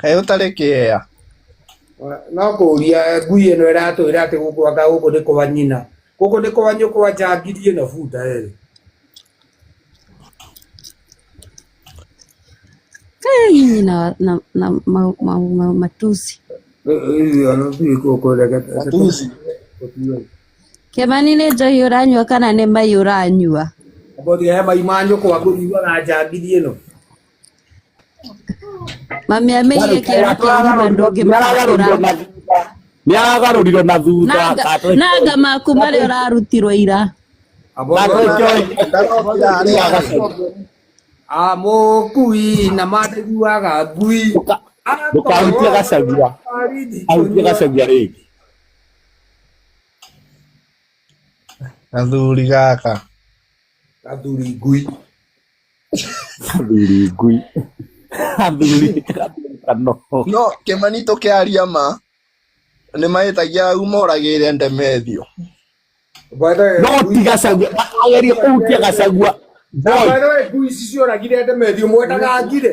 Kaĩ ũtarĩ kĩea? No kũũria ngui ĩno ĩratwĩra atĩ gũkũ anga gũkũ nĩ kwa nyina. Gũkũ nĩ kwa nyũkwa njangiri ĩno bunda ĩrĩ. Hey, na, na, na ma, ma, ma, matusi Matusi. kĩmani nĩ njohi ũranyua kana nĩ mai ũranyua Mbũthia he mai ma nyũkwa ngũriuaga njangiri ĩno. Mami amĩire kĩero kĩa riba ndũngĩmahũra. nä aragarå na thutha Nanga maku marĩa ũrarutirwo ira. amũkui na mandĩguaga ngui ndũkahutie gacagia ahutie gacagia rä ngä gathuri gaka gathuri ngui athuri ngui athuri kano no kĩmanitũ kĩa aria ma nĩ mahĩtagia au moragĩire ndemethio no ti gacagua agerie kũhutia gacagua boy ngui ici cioragire ndemethio mwendaga ngire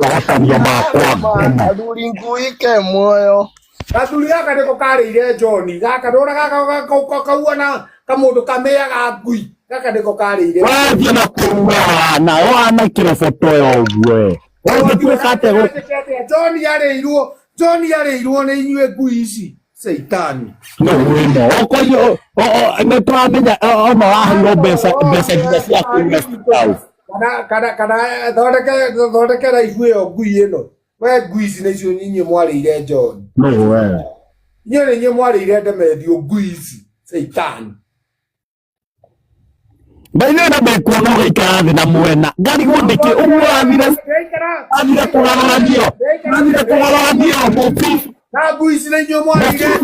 Wagatania makwa. Athũringũĩke muoyo. gathuri gaka nä ko karä ire njoni gaka ndå na gaka kauona kamå ndå kamea ga ngui gaka nä ko karä ire Wathiĩ na kũrua na wana kĩroboto ya ũguo. Wathiĩ kuo kate gũkũ. njoni arä irwo njoni arä irwo nä inyuä ngui ici seitani no wino okoyo nä tåramenya ona waheirwo mbeca mbeca nginya cia kå kana kana kana thondeke thondeke raibu ĩyo ngui ĩno we ngui ici nĩ cio inyuĩ mwarĩire njoni inyuĩ nĩ inyuĩ mwarĩire ndemendio ngui ici seitani Baithe na ndekuona ũgaikara thĩ na mwena ngari gũndĩkĩ ũguo athire athire kũgarũranio athire kũgarũranio mũbi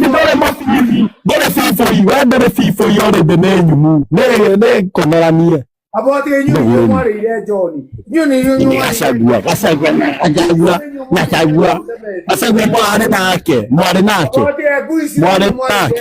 ndore mũbibi ndore biboi we ndore biboi ore thĩ nĩ nyumu nĩkomeranie gacagua gacagua gacagua gacagua gacagua mwarĩ nake mwarĩ nake mwarĩ nake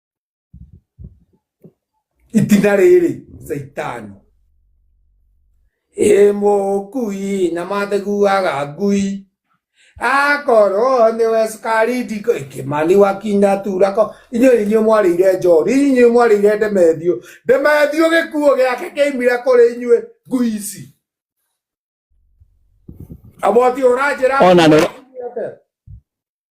itina rĩrĩ caitani ĩ mũkui na matheguaga ngui akorwo nĩ we cukari ndiko kĩmani wakinya turako inyuĩ inyuĩ mwarĩire njori inyuĩ mwarĩire ndemethiũ ndemethiũ gĩkuo gĩake kĩaimire kũrĩ inyuĩ ngui ici aboti ũranjĩra Ona nĩ-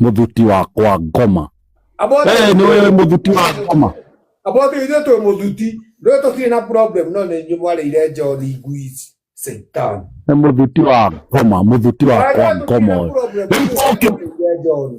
Mũthuti wakwa ngoma. Abote Eh, nĩ wewe mũthuti wa ngoma. abote ithuĩ twĩ mũthuti ndũĩ tũtirĩ na problem no nĩ inyuĩ mwarĩire njoni ngui ici satan Nĩ mũthuti wa ngoma, mũthuti wakwa ngoma ũyũ. Rĩu ũkĩ- njoni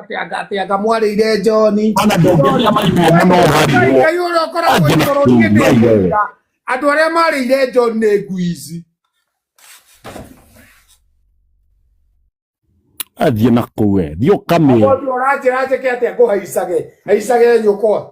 atĩanga mwarĩire njoni ona ndũngĩria maimwo mũno ũharirwo ngai ũrĩa ũkoragwo Angĩ igũrũ niĩ nĩ ngai wewe. ngũiga andũ arĩa marĩire njoni nĩ ngui ici athiĩ na kũu we thiĩ ũkamĩra mũndũ ũranjĩra njĩke atĩa ngũhaicage haicage nyũkwa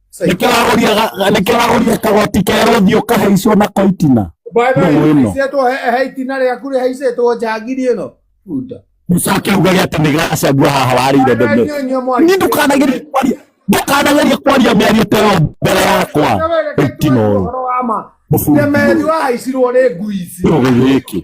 nĩkĩragũria kagoti kerũ thiĩ ũkahaicwo na koitina baitwo he itina rĩaku rĩhaicĩtwo njangiri ĩno buta mũcakĩuga gĩa atĩ nĩ gacagua haha warĩire ndege ni ndũkanagerie kwaria ndũkanagerie kwaria mĩario ta ĩyo mbere yakwa ũtino ũyũ nĩmeri wahaicirwo nĩ ngui ici gĩkĩ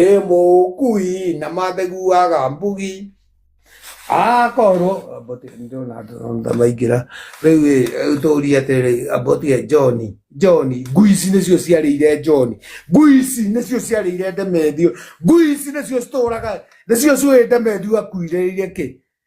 ĩ mũkui na matheguaga mbugi akorwo amboti ndĩrona andũ na maingĩra rĩu ĩ rĩu tũrie atĩrĩ amboti e johni johni ngui ici nĩcio ciarĩire johni ngui ici nĩcio ciarĩire ndemethio ngui ici nĩcio citũraga nĩcio ciũĩ ndemethio akuirĩire kĩ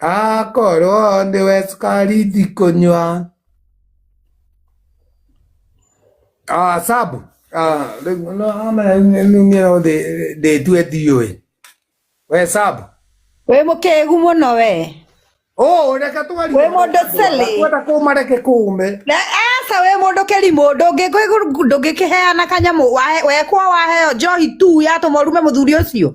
akorwo nĩwe cukari ndikũnyua Ah, sabu Ah, rĩu no amenya nyumĩra thĩ ndĩtue ndiũĩ we sabu wĩ mũkĩgu mũno we Oh, reke twarire. Wĩ mũndũ silly. Kwenda kuma reke kume. Na, aca wĩ mũndũ kĩrimũ ndũngĩkĩheana kanyamũ wahe- wekwo waheo njohi tu yatũma ũrume mũthuri ũcio